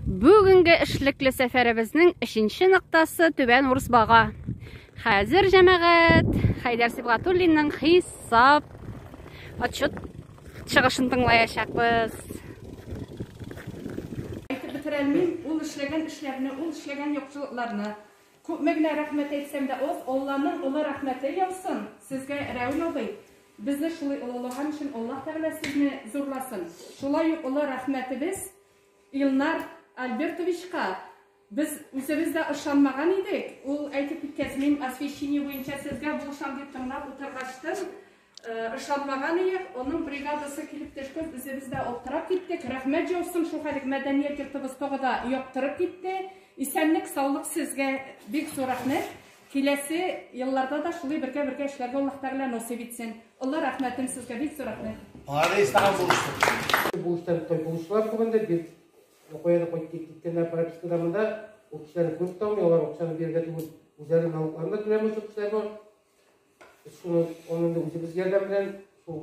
Бүгенге эшлекле сәфәребезнең өченче ноктасы Түбән Урысбага. Хәзер җәмәгать Хәйдәр Сибгатуллинның хисап отчет чыгышын тыңлаячакбыз. Әйтеп бетерәлмим, ул эшләгән эшләрне, ул эшләгән яхшылыкларны. Күпме генә рәхмәт әйтсәм дә аз, Алланың олы рәхмәте яусын сезгә, Рәүн абый. Безне шулай олылаган өчен Аллаһ Тәгалә сезне зурласын. Шулай ук олы рәхмәтебез Илнар Альбертовичка без үзебез дә ышанмаган идек. Ул әйтеп киткәч, мин освещение буенча сезгә булышам дип тыңлап утыргачтын, ышанмаган иек. Аның бригадасы килеп төшкәч, үзебез дә аптырап киттек. Рәхмәт җаусын, шул хәлек мәдәният йортыбыз тагы да яктырып китте. Исәнлек, саулык сезгә бик зур рәхмәт. Киләсе елларда да шулый бергә бергә эшләргә Аллаһ Тәгалә насыйп итсен. Олы рәхмәтем сезгә, бик зур рәхмәт. Молодец, тагын булыштык. Булыштан той булыштылар түгелдер, бир Нокояда кайтып киткәннәр пропискада монда. Ул кешеләрне күреп тә алмый, алар акчаны бирергә түгел, үзләре налогларын да түләмәүче кешеләр бар. Шуны аны инде үзебез ярдәм белән шул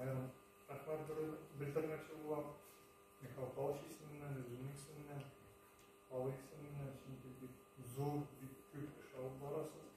Аерым рәхмәт белдермәкче булам. Михаил Павлович исеменнән, үземнең исемемнән, халык исеменнән, чөнки бик зур, бик күп эш алып барасыз.